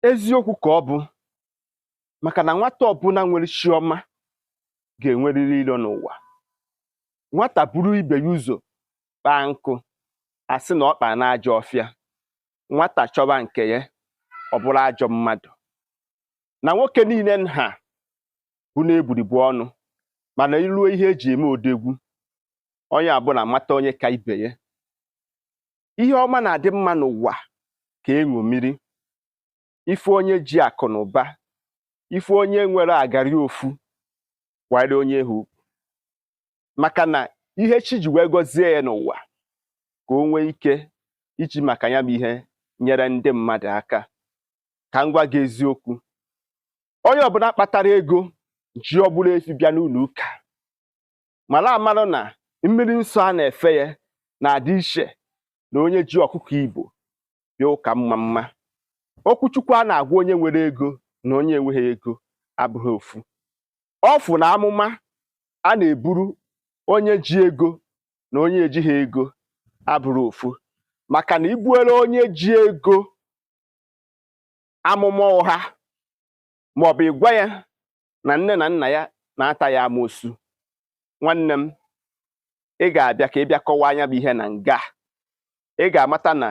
eziokwu ka ọ bụ maka na nwata ọbụla nwere chi ọma ga-enwerịrị ilo n'ụwa nwata buru ibe ya ụzọ kpaa nkụ asị na ọ kpaa n'ajọ ọfịa nwata chọba nke ya ọ bụrụ ajọ mmadụ na nwoke niile nha bụ n'egburigbu ọnụ mana iruo ihe eji eme odogwu onye ọbụla amata onye ka ibe ya ihe ọma na-adị mma n'ụwa ka eṅomiri ị fụ onye ji akụ na ụba ị fụ onye nwere agari ofu kwanyere onye ahụ ugwu maka na ihe chi ji wee gọzie ya n'ụwa ka o nwee ike iji maka ya bụ ihe nyere ndị mmadụ aka ka m gwa gị eziokwu onye ọbụla kpatara ego ji ọbụla efi bịa n'ụlọ ụka mara amarụ na mmiri nsọ a na-efe ya na-adị iche na onye ji ọkụkọ Igbo bịa ụka mmamma okwu chukwu a na-agwa onye nwere ego na onye enweghị ego abụrọ ofu ọfụ na amụma a na-eburu onye ji ego na onye ejighị ego abụrọ ofu maka na ibuere onye ji ego amụma ụgha ma ọ bụ ịgwa ya na nne na nna ya na-ata ya amoosu nwanne m ị ga-abịa ka ị bịa kọwaa nya bụ ihe na nga ị ga-amata na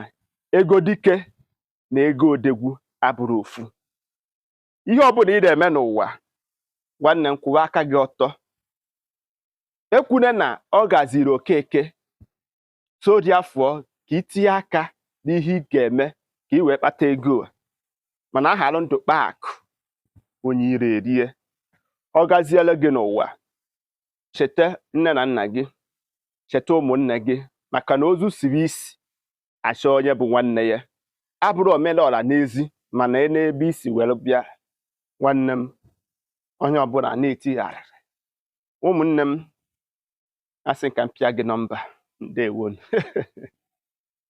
ego dike na ego odogwu abụrọ ofu ihe ọ bụla ị na-eme n'ụwa nwanne m kwụwa aka gị ọtọ ekwune na ọ gaziiri Okeke so dị afọ ka itinye aka n'ihe ị ga-eme ka ị wee kpata ego a mana ahalụ ndụ kpaa akụ onye iro erie ọ gaziela gị n'ụwa cheta nne na nna gị cheta ụmụnne gị maka na ozu siri isi achọ onye bụ nwanne ya abụrụ omelọra n'ezi mana e nee ebe i si were bịa nwanne m onye ọbụla na-eti arịrị ụmụnne m asị m ka m pịa gị nọmba ndewonụ